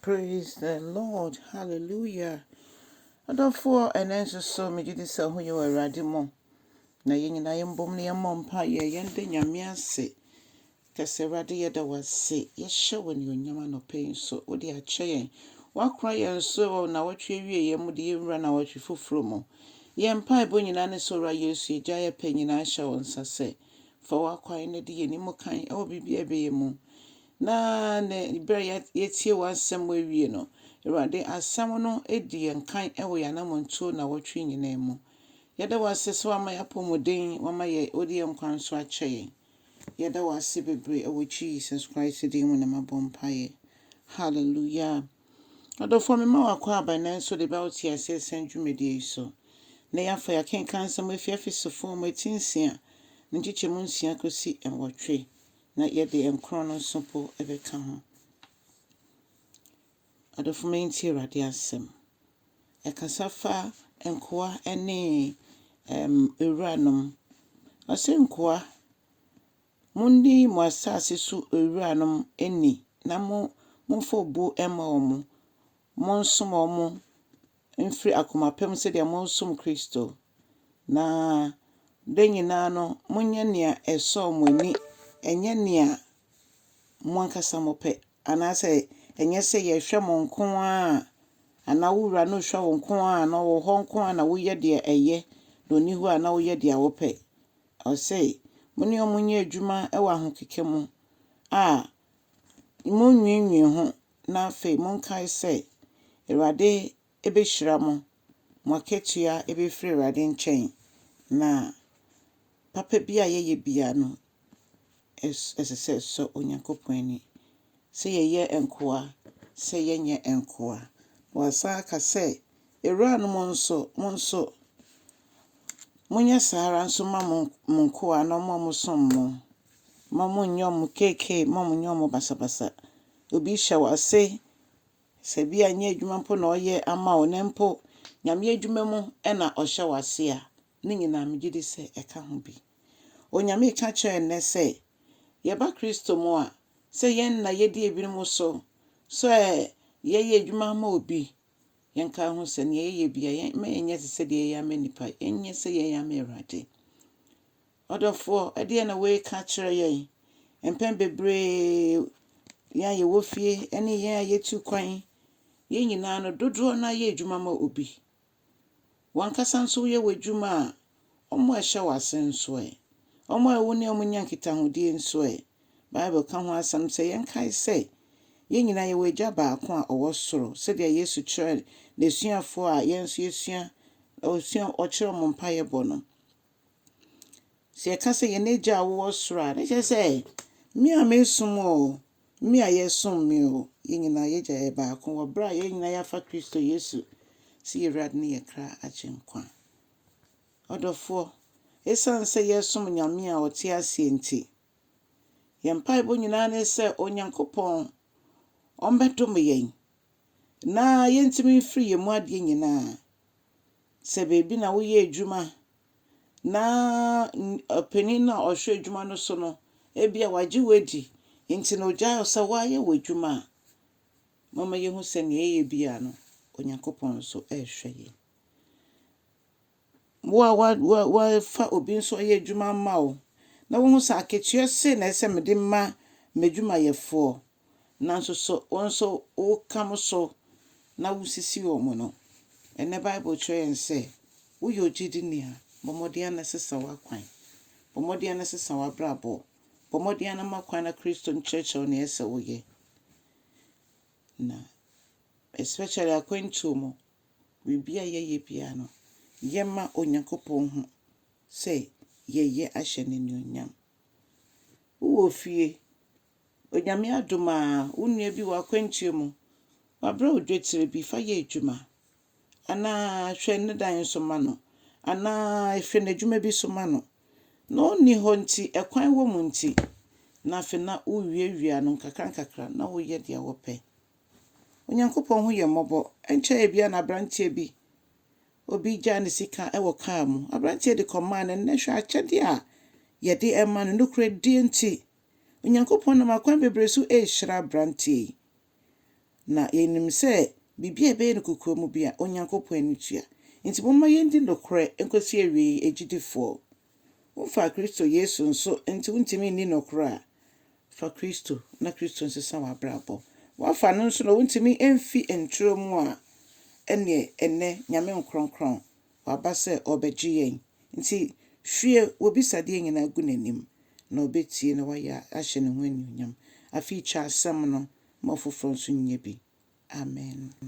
Praise the Lord hallelujah adɔfoɔ ɛnɛ nso so megye di sɛ ho yɛ wɔ Awurade mu na yɛn nyinaa yɛn bom na yɛmmɔ mpa yɛ yɛn da Nyame ase kɛsɛ Awurade yɛda wo ase yɛhyɛ wo anuonyam anɔpa yi nso wode akyɛ yɛn woakora yɛn so wɔ nawɔtwe awie yɛn mu de yɛnwura nawɔtwe foforɔ mu yɛn mpaebɔ nyinaa ne sɛ Owura Yesu yɛgya yɛpɛ nyinaa hyɛ wo nsa sɛ fa w'akwan ne de yɛn mu kan ɛwɔ biribi a ɛbɛyɛ mu Na ne berɛ a yɛatie w'asɛm mu awie no, Awurade, asɛm no di yɛn kan wɔ yɛn anammɔntuo nnawɔtwe nyinaa mu. Yɛda wo ase sɛ woama yɛn apɔmuden, woama yɛn, wode yɛn nkwa nso akyɛ yɛn. Yɛda wo ase bebree wɔ Jesus Christ din mu na mabɔ mpaeɛ. Hallelujah. Adɔfoɔ, mema wakɔ aban nanso de bɛwo te aseɛ sɛn dwumadie yi so. Nnɛ yɛafa yɛakenkan nsɛm afi Efesofoɔ mu eti nsia, ne nkyekyɛmu nsia kɔsi nwɔtwe. na yɛde nkron no nso mpo bɛka ho. Adɔfo, montie Awurade asɛm. Ɛkasa fa nkoa ne awuranom. Ɔse nkoa, monni mo asase so awuranom ni na momfa obu mma wɔn, monsom wɔn, mfiri akoma pa mu sɛdeɛ moresom Kristo, na berɛ nyinaa no monyɛ nea ɛsɔ mo ani, ɛnyɛ nea mo ankasa mopɛ, anaasɛ ɛnyɛ sɛ yɛhwɛ mo nko ara, anaa wo wura no hwɛ wo nko ara, na ɔwɔ hɔ nko ara na woyɛ deɛ ɛyɛ, na ɔnni hɔ a na woyɛ deɛ wopɛ. Ɔse, mo ne wɔn nyɛ adwuma wɔ ahokeka mu a monnwiinwii ho, na afei monkae sɛ, Awurade bɛhyira mo, mo akatua bɛfiri Awurade nkyɛn, na papa bi a yɛyɛ biara no, ɛsɛ sɛ ɛsɔ Onyankopɔn ani, sɛ yɛyɛ nkoa, sɛ yɛnyɛ nkoa. Na wasan aka sɛ, Awuranom nso, mo nso, monyɛ saa ara nso ma mo nkoa na wɔn a wɔsom mo. Mma wɔn nnyɛ wɔn KK, mma wɔn nnyɛ wɔn basabasa. Obi rehyɛ wo ase, sɛ bi a ɛnyɛ adwuma mpo na ɔreyɛ ama wo, na mpo Nyame adwuma mu na ɔhyɛ wo ase a, ne nyinaa megye di sɛ ɛka ho bi. Onyame reka kyerɛ yɛn nnɛ sɛ, yɛba Kristo mu a, sɛ yɛn nna yɛdi ebinom so, sɛ yɛyɛ adwuma ama obi, yɛnka ho sɛ nea yɛyɛ bia, mma yɛnyɛ te sɛ deɛ yɛyɛ ama nnipa, yɛnyɛ sɛ yɛyɛ ama Awurade. Ɔdɔfoɔ, ɛdeɛn na wei ka kyerɛ yɛn? Mpɛn bebree, yɛn a yɛwɔ fie ne yɛn a yɛtu kwan, yɛn nyinaa no, dodoɔ no ara yɛ adwuma ma obi. Wo ankasa nso woyɛ w'adwuma a, wɔn a ɛhyɛ wo ase nso ɛ? Wɔn a wo ne wɔn nya nkitahodie nso ɛ? Bible ka ho asɛm sɛ yɛnkae sɛ, yɛn nyinaa yɛwɔ Agya baako a ɔwɔ soro, sɛdeɛ Yesu kyerɛɛ n'asuafoɔ a yɛn nso yɛsua, ɔsua, ɔkyerɛɛ wɔn mpaeɛbɔ no. Sɛ yɛka sɛ yɛn Agya a ɔwɔ soro a, na ɛkyerɛ sɛ me a meresom wo oo, me a yɛresom me oo, yɛn nyinaa yɛn Agya yɛ baako wɔ berɛ a yɛn nyinaa yɛafa Kristo Yesu sɛ yɛn Awurade ne yɛn kra agyenkwa. Ɔdɔfoɔ, ɛsiane sɛ yɛresom Nyame a ɔte aseɛ nti, yɛn mpaebɔ nyinaa ne sɛ Onyankopɔn ɔmmɛdome yɛn na yɛntumi mfiri yɛn mu adeɛ nyinaa. Sɛ baabi na woyɛ adwuma na ɔpanin no a ɔhwɛ adwuma no so no, ebia wagye wo adi nti na ogyae wo sɛ woayɛ w'adwuma a, momma yɛnhu sɛ nea yɛyɛ biara no, Onyankopɔn nso rehwɛ yɛn. Wo a wɔafa obi nso ɔyɛ adwuma ama wo na wohu sɛ akatua sei na ɛsɛ sɛ mede ma m'adwumayɛfoɔ nanso so wo nso woka mo so na wusisi wɔn no? Ɛnnɛ Bible kyerɛ yɛn sɛ, Woyɛ ogyidini a, bɔ mmɔden ara na sesa w'akwan. Bɔ mmɔden ara na sesa w'abrabɔ. Bɔ mmɔden ara na ma kwan na Kristo nkyerɛkyerɛ wo nea ɛsɛ sɛ woyɛ. Na especially akwantuo mu, biribi a yɛyɛ biara no, yɛmma Onyankopɔn hu sɛ yɛyɛ ahyɛ no anuonyam. Wowɔ fie Onyame adom a, wo nua bi wɔ akwantuo mu, wabrɛ wo dwetire bi, fa yɛ adwuma. Anaa hwɛ ne dan nso ma no. Anaa hwɛ n'adwuma bi nso ma no. Na ɔnni hɔ nti, ɛkwan wɔ mu nti, na afei na wowiawia no nkakrankakra na woyɛ deɛ wopɛ. Onyankopɔn ho yɛ mmɔbɔ. Ɛnkyɛ ebi a na aberanteɛ bi, obi gyaa ne sika wɔ kaa mu. Aberanteɛ de kɔmaa no, ɛnnɛ hwɛ akyɛdeɛ a yɛde ma no. Nokorɛdie nti, Onyankopɔn nam akwan bebree so rehyira aberanteɛ yi, na yɛnim sɛ biribi a ɛbɛyɛ no kokoam biara, Onyankopɔn ani tua. Enti momma yɛndi nokorɛ nkɔsi awieeɛ, agyidifoɔ. Womfaa Kristo Yesu nso nti wontumi nni nokorɛ a, fa Kristo na Kristo nsesa w'abrabɔ. Woafa no nso na wontumi mfi ntorɔ mu a, ɛnneɛ ɛnnɛ Nyame nkorɔnkorɔn Waba sɛ ɔrebɛgye yɛn. Nti hwie w'abisadeɛ nyinaa gu n'anim, na ɔbɛtie na wayɛ ahyɛ ne ho anuonyam. Afei kyɛ asɛm no ma ɔfoforɔ nso nyɛ bi. Amen.